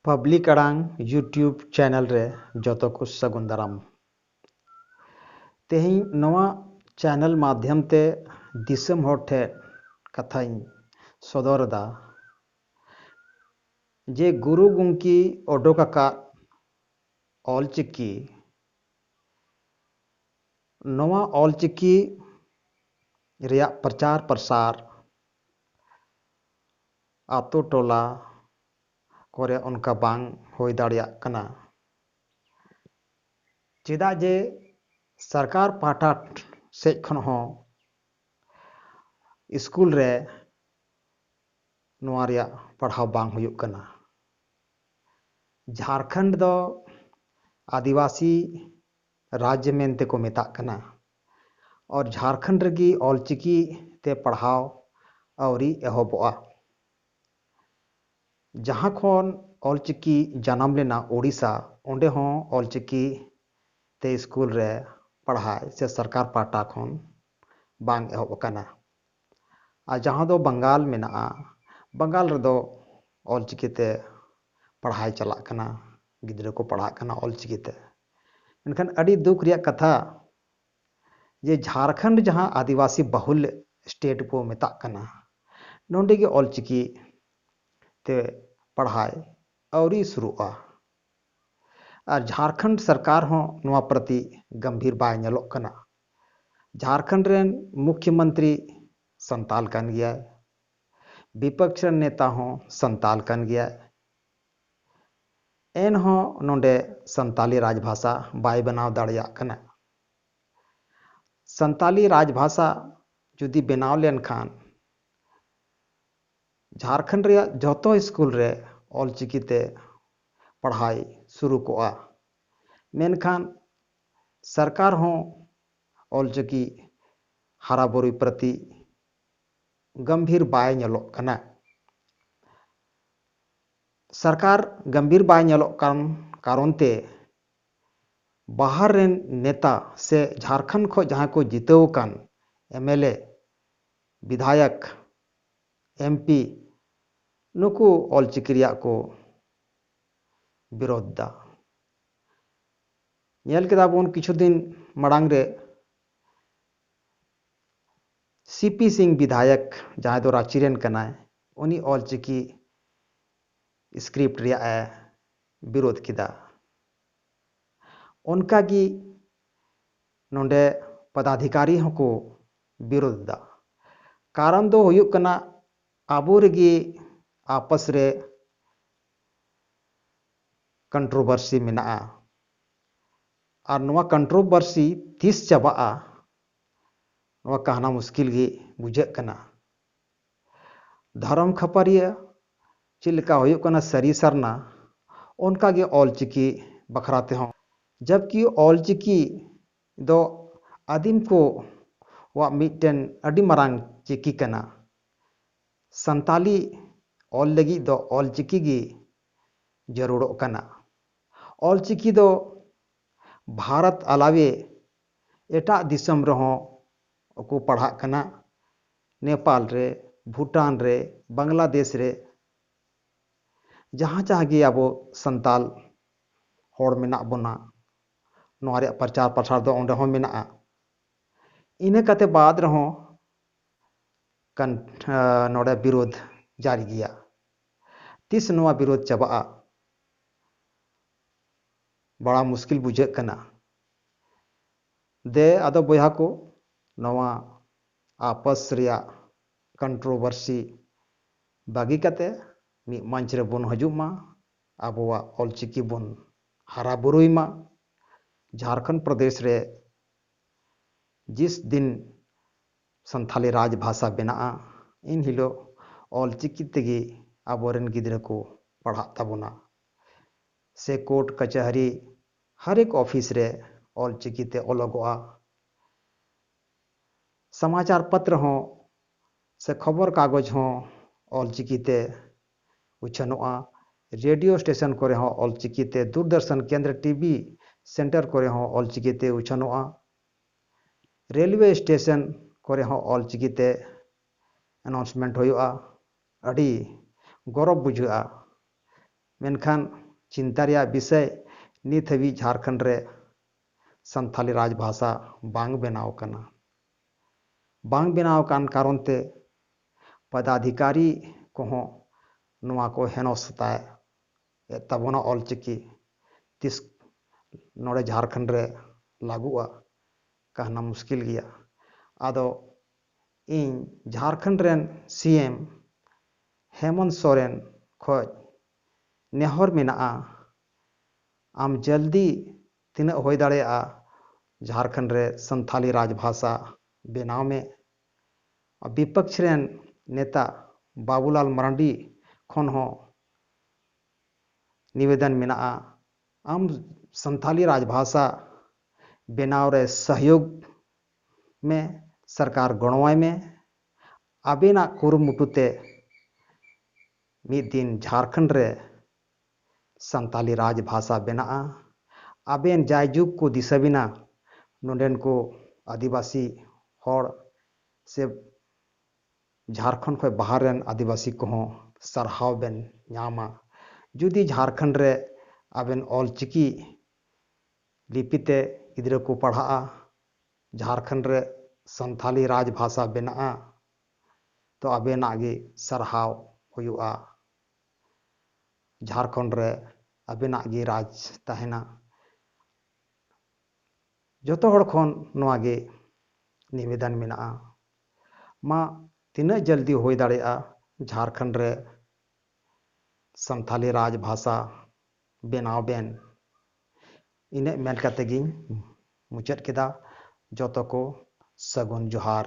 Public ᱟᱲᱟᱝ YouTube channel ᱨᱮ ᱡᱚᱛᱚ ᱠᱚ ᱥᱟᱹᱜᱩᱱ ᱫᱟᱨᱟᱢ ᱛᱮᱦᱮᱧ ᱱᱚᱣᱟ ᱪᱮᱱᱮᱞ ᱢᱟᱫᱽᱫᱷᱚᱢ ᱛᱮ ᱫᱤᱥᱚᱢ ᱦᱚᱲ ᱴᱷᱮᱱ ᱠᱟᱛᱷᱟᱧ ᱥᱚᱫᱚᱨ ᱮᱫᱟ ᱡᱮ ᱜᱩᱨᱩ ᱜᱚᱢᱠᱮ ᱚᱰᱚᱠ ᱟᱠᱟᱫ ᱚᱞᱪᱤᱠᱤ ᱱᱚᱣᱟ ᱚᱞᱪᱤᱠᱤ ᱨᱮᱭᱟᱜ ᱯᱨᱚᱪᱟᱨ ᱯᱨᱚᱥᱟᱨ ᱟᱛᱳ ᱴᱚᱞᱟ ᱠᱚᱨᱮ ᱚᱱᱠᱟ ᱵᱟᱝ ᱦᱩᱭ ᱫᱟᱲᱮᱭᱟᱜ ᱠᱟᱱᱟ ᱪᱮᱫᱟᱜ ᱡᱮ ᱥᱚᱨᱠᱟᱨ ᱯᱟᱦᱴᱟ ᱥᱮᱫ ᱠᱷᱚᱱ ᱦᱚᱸ ᱤᱥᱠᱩᱞ ᱨᱮ ᱱᱚᱣᱟ ᱨᱮᱭᱟᱜ ᱯᱟᱲᱦᱟᱣ ᱵᱟᱝ ᱦᱩᱭᱩᱜ ᱠᱟᱱᱟ ᱡᱷᱟᱨᱠᱷᱚᱸᱰ ᱫᱚ ᱟᱹᱫᱤᱵᱟᱹᱥᱤ ᱨᱟᱡᱽ ᱢᱮᱱᱛᱮ ᱠᱚ ᱢᱮᱛᱟᱜ ᱠᱟᱱᱟ ᱟᱨ ᱡᱷᱟᱨᱠᱷᱚᱸᱰ ᱨᱮᱜᱮ ᱚᱞᱪᱤᱠᱤ ᱛᱮ ᱯᱟᱲᱦᱟᱣ ᱟᱹᱣᱨᱤ ᱮᱦᱚᱵᱚᱜᱼᱟ ᱡᱟᱦᱟᱸ ᱠᱷᱚᱱ ᱚᱞᱪᱤᱠᱤ ᱡᱟᱱᱟᱢ ᱞᱮᱱᱟ ᱳᱰᱤᱥᱟ ᱚᱸᱰᱮ ᱦᱚᱸ ᱚᱞᱪᱤᱠᱤ ᱛᱮ ᱥᱠᱩᱞ ᱨᱮ ᱯᱟᱲᱦᱟᱣ ᱥᱮ ᱥᱚᱨᱠᱟᱨ ᱯᱟᱦᱴᱟ ᱠᱷᱚᱱ ᱵᱟᱝ ᱮᱦᱚᱵ ᱟᱠᱟᱱᱟ ᱟᱨ ᱡᱟᱦᱟᱸ ᱫᱚ ᱵᱟᱝᱜᱟᱞ ᱢᱮᱱᱟᱜᱼᱟ ᱵᱟᱝᱜᱟᱞ ᱨᱮᱫᱚ ᱚᱞ ᱪᱤᱠᱤ ᱛᱮ ᱯᱟᱲᱦᱟᱭ ᱪᱟᱞᱟᱜ ᱠᱟᱱᱟ ᱜᱤᱫᱽᱨᱟᱹ ᱠᱚ ᱯᱟᱲᱦᱟᱜ ᱠᱟᱱᱟ ᱚᱞ ᱪᱤᱠᱤ ᱛᱮ ᱢᱮᱱᱠᱷᱟᱱ ᱟᱹᱰᱤ ᱫᱩᱠ ᱨᱮᱭᱟᱜ ᱠᱟᱛᱷᱟ ᱡᱮ ᱡᱷᱟᱲᱠᱷᱚᱸᱰ ᱡᱟᱦᱟᱸ ᱟᱹᱫᱤᱵᱟᱹᱥᱤ ᱵᱟᱹᱦᱩᱞ ᱥᱴᱮᱴ ᱠᱚ ᱢᱮᱛᱟᱜ ᱠᱟᱱᱟ ᱱᱚᱰᱮ ᱜᱮ ᱚᱞ ᱪᱤᱠᱤ ᱛᱮ ᱯᱟᱲᱦᱟᱭ ᱟᱹᱣᱨᱤ ᱥᱩᱨᱩᱜᱼᱟ ᱟᱨ ᱡᱷᱟᱨᱠᱷᱚᱸᱰ ᱥᱚᱨᱠᱟᱨ ᱦᱚᱸ ᱱᱚᱣᱟ ᱯᱨᱚᱛᱤ ᱜᱚᱢᱵᱷᱤᱨ ᱵᱟᱭ ᱧᱮᱞᱚᱜ ᱠᱟᱱᱟ᱾ ᱡᱷᱟᱨᱠᱷᱚᱸᱰ ᱨᱮᱱ ᱢᱩᱠᱷᱭᱚ ᱢᱚᱱᱛᱨᱤ ᱥᱟᱱᱛᱟᱞ ᱠᱟᱱ ᱜᱮᱭᱟᱭ᱾ ᱵᱤᱯᱚᱠᱥ ᱨᱮᱱ ᱱᱮᱛᱟ ᱦᱚᱸ ᱥᱟᱱᱛᱟᱞ ᱠᱟᱱ ᱜᱮᱭᱟᱭ᱾ ᱮᱱ ᱦᱚᱸ ᱱᱚᱸᱰᱮ ᱥᱟᱱᱛᱟᱞᱤ ᱨᱟᱡᱽᱵᱷᱟᱥᱟ ᱵᱟᱭ ᱵᱮᱱᱟᱣ ᱫᱟᱲᱮᱭᱟᱜ ᱠᱟᱱᱟ᱾ ᱥᱟᱱᱛᱟᱞᱤ ᱨᱟᱡᱽᱵᱷᱟᱥᱟ ᱡᱩᱫᱤ ᱵᱮᱱᱟᱣ ᱞᱮᱱ ᱠᱷᱟᱱ ᱡᱷᱟᱨᱠᱷᱚᱸᱰ ᱨᱮᱭᱟᱜ ᱡᱚᱛᱚ ᱥᱠᱩᱞ ᱨᱮ ᱚᱞ ᱪᱤᱠᱤ ᱛᱮ ᱯᱟᱲᱦᱟᱭ ᱥᱩᱨᱩ ᱠᱚᱜᱼᱟ ᱢᱮᱱᱠᱷᱟᱱ ᱥᱚᱨᱠᱟᱨ ᱦᱚᱸ ᱚᱞ ᱪᱤᱠᱤ ᱦᱟᱨᱟ ᱵᱩᱨᱩᱭ ᱯᱨᱚᱛᱤ ᱜᱚᱢᱵᱷᱤᱨ ᱵᱟᱭ ᱧᱮᱞᱚᱜ ᱠᱟᱱᱟ ᱥᱚᱨᱠᱟᱨ ᱜᱚᱢᱵᱷᱤᱨ ᱵᱟᱭ ᱧᱮᱞᱚᱜ ᱠᱟᱱ ᱠᱟᱨᱚᱱ ᱛᱮ ᱵᱟᱦᱟᱨ ᱨᱮᱱ ᱱᱮᱛᱟ ᱥᱮ ᱡᱷᱟᱨᱠᱷᱚᱸᱰ ᱠᱷᱚᱱ ᱡᱟᱦᱟᱸᱭ ᱠᱚ ᱡᱤᱛᱟᱹᱣ ᱟᱠᱟᱱ ᱮᱢᱮᱞᱮ ᱵᱤᱫᱷᱟᱭᱚᱠ ᱮᱢ ᱯᱤ ᱱᱩᱠᱩ ᱚᱞ ᱪᱤᱠᱤ ᱨᱮᱭᱟᱜ ᱠᱚ ᱵᱤᱨᱳᱫᱷ ᱮᱫᱟ ᱧᱮᱞ ᱠᱮᱫᱟ ᱵᱚᱱ ᱠᱤᱪᱷᱩ ᱫᱤᱱ ᱢᱟᱲᱟᱝ ᱨᱮ ᱥᱤᱯᱤ ᱥᱤᱝ ᱵᱤᱫᱷᱟᱭᱚᱠ ᱡᱟᱦᱟᱸᱭ ᱫᱚ ᱨᱟᱺᱪᱤ ᱨᱮᱱ ᱠᱟᱱᱟᱭ ᱩᱱᱤ ᱚᱞ ᱪᱤᱠᱤ ᱥᱠᱨᱤᱯᱴ ᱨᱮᱭᱟᱜ ᱮ ᱵᱤᱨᱳᱫᱷ ᱠᱮᱫᱟ ᱚᱱᱠᱟᱜᱮ ᱱᱚᱰᱮ ᱯᱚᱫᱟᱫᱷᱤᱠᱟᱨᱤ ᱦᱚᱸᱠᱚ ᱵᱤᱨᱳᱫᱷ ᱮᱫᱟ᱾ ᱠᱟᱨᱚᱱ ᱫᱚ ᱦᱩᱭᱩᱜ ᱠᱟᱱᱟ ᱟᱵᱚ ᱨᱮᱜᱮ ᱟᱯᱚᱥ ᱨᱮ ᱠᱚᱱᱴᱨᱚᱵᱷᱟᱨᱥᱤ ᱢᱮᱱᱟᱜᱼᱟ᱾ ᱟᱨ ᱱᱚᱣᱟ ᱠᱚᱱᱴᱨᱚᱵᱷᱟᱨᱥᱤ ᱛᱤᱥ ᱪᱟᱵᱟᱜᱼᱟ ᱱᱚᱣᱟ ᱠᱟᱦᱱᱟ ᱢᱩᱥᱠᱤᱞ ᱜᱮ ᱵᱩᱡᱷᱟᱹᱜ ᱠᱟᱱᱟ᱾ ᱫᱷᱚᱨᱚᱢ ᱠᱷᱟᱹᱯᱟᱹᱨᱤᱭᱟᱹ ᱪᱮᱫ ᱞᱮᱠᱟ ᱦᱩᱭᱩᱜ ᱠᱟᱱᱟ ᱥᱟᱹᱨᱤ ᱥᱟᱨᱱᱟ ᱚᱱᱠᱟ ᱜᱮ ᱚᱞ ᱪᱤᱠᱤ ᱵᱟᱠᱷᱨᱟ ᱛᱮᱦᱚᱸ᱾ ᱡᱚᱵᱠᱤ ᱚᱞ ᱪᱤᱠᱤ ᱫᱚ ᱟᱹᱫᱤᱢ ᱠᱚ ᱣᱟᱜ ᱢᱤᱫᱴᱮᱱ ᱟᱹᱰᱤ ᱢᱟᱨᱟᱝ ᱪᱤᱠᱤ ᱠᱟᱱᱟ᱾ ᱥᱟᱱᱛᱟᱞᱤ ᱚᱞ ᱞᱟᱹᱜᱤᱫ ᱫᱚ ᱚᱞ ᱪᱤᱠᱤ ᱜᱮ ᱡᱟᱹᱨᱩᱲᱚᱜ ᱠᱟᱱᱟ᱾ ᱚᱞ ᱪᱤᱠᱤ ᱫᱚ ᱵᱷᱟᱨᱚᱛ ᱟᱞᱟᱣᱮ ᱮᱴᱟᱜ ᱫᱤᱥᱚᱢ ᱨᱮᱦᱚᱸ ᱠᱚ ᱯᱟᱲᱦᱟᱜ ᱠᱟᱱᱟ᱾ ᱱᱮᱯᱟᱞ ᱨᱮ, ᱵᱷᱩᱴᱟᱱ ᱨᱮ, ᱵᱟᱝᱞᱟᱫᱮᱥ ᱨᱮ ᱡᱟᱦᱟᱸ ᱡᱟᱦᱟᱸ ᱜᱮ ᱟᱵᱚ ᱥᱟᱱᱛᱟᱞ ᱦᱚᱲ ᱢᱮᱱᱟᱜ ᱵᱚᱱᱟ ᱱᱚᱣᱟ ᱨᱮᱭᱟᱜ ᱯᱨᱚᱪᱟᱨ ᱯᱨᱚᱥᱟᱨ ᱫᱚ ᱚᱸᱰᱮ ᱦᱚᱸ ᱢᱮᱱᱟᱜᱼᱟ ᱤᱱᱟᱹ ᱠᱟᱛᱮ ᱵᱟᱫ ᱨᱮᱦᱚᱸ ᱠᱟᱱ ᱱᱚᱰᱮ ᱵᱤᱨᱳᱫᱷ ᱡᱟᱨᱤ ᱜᱮᱭᱟ ᱛᱤᱥ ᱱᱚᱣᱟ ᱵᱤᱨᱳᱫᱷ ᱪᱟᱵᱟᱜᱼᱟ ᱵᱟᱲᱟ ᱢᱩᱥᱠᱤᱞ ᱵᱩᱡᱷᱟᱹᱜ ᱠᱟᱱᱟ ᱫᱮ ᱟᱫᱚ ᱵᱚᱭᱦᱟ ᱠᱚ ᱱᱚᱣᱟ ᱟᱯᱟᱥ ᱨᱮᱭᱟᱜ ᱠᱚᱱᱴᱨᱳᱵᱷᱟᱨᱥᱤ ᱵᱟᱹᱜᱤ ᱠᱟᱛᱮ ᱢᱤᱫ ᱢᱚᱧᱪ ᱨᱮᱵᱚᱱ ᱦᱤᱡᱩᱜ ᱢᱟ ᱟᱵᱚᱣᱟᱜ ᱚᱞᱪᱤᱠᱤ ᱵᱚᱱ ᱦᱟᱨᱟ ᱵᱩᱨᱩᱭ ᱢᱟ᱾ ᱡᱷᱟᱨᱠᱷᱚᱸᱰ ᱯᱨᱚᱫᱮᱥ ᱨᱮ ᱡᱤᱥ ᱫᱤᱱ ᱥᱟᱱᱛᱷᱟᱞᱤ ᱨᱟᱡᱽ ᱵᱷᱟᱥᱟ ᱵᱮᱱᱟᱜᱼᱟ ᱤᱱ ᱦᱤᱞᱚᱜ ᱚᱞᱪᱤᱠᱤ ᱛᱮᱜᱮ ᱟᱵᱚ ᱨᱮᱱ ᱜᱤᱫᱽᱨᱟᱹ ᱠᱚ ᱯᱟᱲᱦᱟᱜ ᱛᱟᱵᱚᱱᱟ ᱥᱮ ᱠᱳᱨᱴ ᱠᱟᱹᱪᱟᱹᱦᱟᱹᱨᱤ ᱦᱟᱨ ᱮᱠ ᱚᱯᱷᱤᱥ ᱨᱮ ᱚᱞᱪᱤᱠᱤ ᱛᱮ ᱚᱞᱚᱜᱚᱜᱼᱟ᱾ ᱥᱟᱢᱟᱪᱟᱨ ᱯᱟᱛᱨᱚ ᱦᱚᱸ ᱥᱮ ᱠᱷᱚᱵᱚᱨ ᱠᱟᱜᱚᱡᱽ ᱦᱚᱸ ᱚᱞᱪᱤᱠᱤ ᱛᱮ ᱩᱪᱷᱟᱹᱱᱚᱜᱼᱟ᱾ ᱨᱮᱰᱤᱭᱳ ᱥᱴᱮᱥᱚᱱ ᱠᱚᱨᱮ ᱦᱚᱸ ᱚᱞᱪᱤᱠᱤ ᱛᱮ ᱫᱩᱨᱫᱚᱨᱥᱚᱱ ᱠᱮᱱᱫᱽᱨᱚ ᱴᱤᱵᱤ ᱥᱮᱱᱴᱚᱨ ᱠᱚᱨᱮ ᱦᱚᱸ ᱚᱞᱪᱤᱠᱤ ᱛᱮ ᱩᱪᱷᱟᱹᱱᱚᱜᱼᱟ᱾ ᱨᱮᱞᱣᱮ ᱥᱴᱮᱥᱚᱱ ᱠᱚᱨᱮ ᱦᱚᱸ ᱚᱞᱪᱤᱠᱤ ᱛᱮ ᱮᱱᱟᱣᱩᱱᱥᱢᱮᱱᱴ ᱦᱩᱭᱩᱜᱼᱟ᱾ ᱟᱹᱰᱤ ᱜᱚᱨᱚᱵᱽ ᱵᱩᱡᱷᱟᱹᱜᱼᱟ᱾ ᱢᱮᱱᱠᱷᱟᱱ ᱪᱤᱱᱛᱟ ᱨᱮᱭᱟᱜ ᱵᱤᱥᱚᱭ ᱱᱤᱛ ᱦᱟᱹᱵᱤᱡ ᱡᱷᱟᱨᱠᱷᱚᱸᱰ ᱨᱮ ᱥᱟᱱᱛᱷᱟᱞᱤ ᱨᱟᱡᱽᱵᱷᱟᱥᱟ ᱵᱟᱝ ᱵᱮᱱᱟᱣ ᱟᱠᱟᱱᱟ᱾ ᱵᱟᱝ ᱵᱮᱱᱟᱣ ᱟᱠᱟᱱ ᱠᱟᱨᱚᱱ ᱛᱮ ᱯᱚᱫᱟᱫᱷᱤᱠᱟᱨᱤ ᱠᱚᱦᱚᱸ ᱱᱚᱣᱟ ᱠᱚ ᱦᱮᱱᱚᱥᱛᱟ ᱮᱫ ᱛᱟᱵᱚᱱᱟ ᱚᱞ ᱪᱤᱠᱤ ᱛᱤᱥ ᱱᱚᱰᱮ ᱡᱷᱟᱨᱠᱷᱚᱸᱰ ᱨᱮ ᱞᱟᱹᱜᱩᱜᱼᱟ ᱠᱟᱦᱱᱟ ᱢᱩᱥᱠᱤᱞ ᱜᱮᱭᱟ ᱟᱫᱚ ᱤᱧ ᱡᱷᱟᱨᱠᱷᱚᱸᱰ ᱨᱮᱱ ᱥᱤ ᱮᱢ ᱦᱮᱢᱚᱱᱛ ᱥᱚᱨᱮᱱ ᱠᱷᱚᱱ ᱱᱮᱦᱚᱨ ᱢᱮᱱᱟᱜᱼᱟ ᱟᱢ ᱡᱚᱞᱫᱤ ᱛᱤᱱᱟᱹᱜ ᱦᱳᱭ ᱫᱟᱲᱮᱭᱟᱜᱼᱟ ᱡᱷᱟᱨᱠᱷᱚᱸᱰ ᱨᱮ ᱥᱟᱱᱛᱷᱟᱞᱤ ᱨᱟᱡᱽᱵᱷᱟᱥᱟ ᱵᱮᱱᱟᱣ ᱢᱮ᱾ ᱵᱤᱯᱚᱠᱷ ᱨᱮᱱ ᱱᱮᱛᱟ ᱵᱟᱵᱩᱞᱟᱞ ᱢᱟᱨᱟᱱᱰᱤ ᱠᱷᱚᱱ ᱦᱚᱸ ᱱᱤᱵᱮᱫᱚᱱ ᱢᱮᱱᱟᱜᱼᱟ ᱟᱢ ᱥᱟᱱᱛᱷᱟᱞᱤ ᱨᱟᱡᱽᱵᱷᱟᱥᱟ ᱵᱮᱱᱟᱣ ᱨᱮ ᱥᱚᱦᱭᱳᱜᱽ ᱢᱮ, ᱥᱚᱨᱠᱟᱨ ᱜᱚᱲᱚᱣᱟᱭ ᱢᱮ᱾ ᱟᱵᱮᱱᱟᱜ ᱠᱩᱨᱩᱢᱩᱴᱩ ᱛᱮ ᱢᱤᱫ ᱫᱤᱱ ᱡᱷᱟᱨᱠᱷᱚᱸᱰ ᱨᱮ ᱥᱟᱱᱛᱟᱞᱤ ᱨᱟᱡᱽ ᱵᱷᱟᱥᱟ ᱵᱮᱱᱟᱜᱼᱟ᱾ ᱟᱵᱮᱱ ᱡᱟᱭ ᱡᱩᱜᱽ ᱠᱚ ᱫᱤᱥᱟᱹ ᱵᱮᱱᱟ ᱱᱚᱰᱮᱱ ᱠᱚ ᱟᱹᱫᱤᱵᱟᱹᱥᱤ ᱦᱚᱲ ᱥᱮ ᱡᱷᱟᱨᱠᱷᱚᱸᱰ ᱠᱷᱚᱱ ᱵᱟᱦᱟᱨ ᱨᱮᱱ ᱟᱹᱫᱤᱵᱟᱹᱥᱤ ᱠᱚᱦᱚᱸ ᱥᱟᱨᱦᱟᱣ ᱵᱮᱱ ᱧᱟᱢᱟ᱾ ᱡᱩᱫᱤ ᱡᱷᱟᱨᱠᱷᱚᱸᱰ ᱨᱮ ᱟᱵᱮᱱ ᱚᱞ ᱪᱤᱠᱤ ᱞᱤᱯᱤ ᱛᱮ ᱜᱤᱫᱽᱨᱟᱹ ᱠᱚ ᱯᱟᱲᱦᱟᱜᱼᱟ, ᱡᱷᱟᱨᱠᱷᱚᱸᱰ ᱨᱮ ᱥᱟᱱᱛᱟᱞᱤ ᱨᱟᱡᱽ ᱵᱷᱟᱥᱟ ᱵᱮᱱᱟᱜᱼᱟ ᱛᱚ ᱟᱵᱮᱱᱟᱜ ᱜᱮ ᱥᱟᱨᱦᱟᱣ ᱦᱩᱭᱩᱜᱼᱟ᱾ ᱡᱷᱟᱨᱠᱷᱚᱸᱰ ᱨᱮ ᱟᱵᱮᱱᱟᱜ ᱜᱮ ᱨᱟᱡᱽ ᱛᱟᱦᱮᱱᱟ ᱡᱚᱛᱚ ᱦᱚᱲ ᱠᱷᱚᱱ ᱱᱚᱣᱟ ᱜᱮ ᱱᱤᱵᱮᱫᱚᱱ ᱢᱮᱱᱟᱜᱼᱟ ᱢᱟ ᱛᱤᱱᱟᱹᱜ ᱡᱚᱞᱫᱤ ᱦᱩᱭ ᱫᱟᱲᱮᱭᱟᱜᱼᱟ ᱡᱷᱟᱨᱠᱷᱚᱸᱰ ᱨᱮ ᱥᱟᱱᱛᱷᱟᱞᱤ ᱨᱟᱡᱽ ᱵᱷᱟᱥᱟ ᱵᱮᱱᱟᱣ ᱵᱮᱱ ᱤᱱᱟᱹᱜ ᱢᱮᱱ ᱠᱟᱛᱮ ᱜᱤᱧ ᱢᱩᱪᱟᱹᱫ ᱠᱮᱫᱟ ᱡᱚᱛᱚ ᱠᱚ ᱥᱟᱹᱜᱩᱱ ᱡᱚᱦᱟᱨ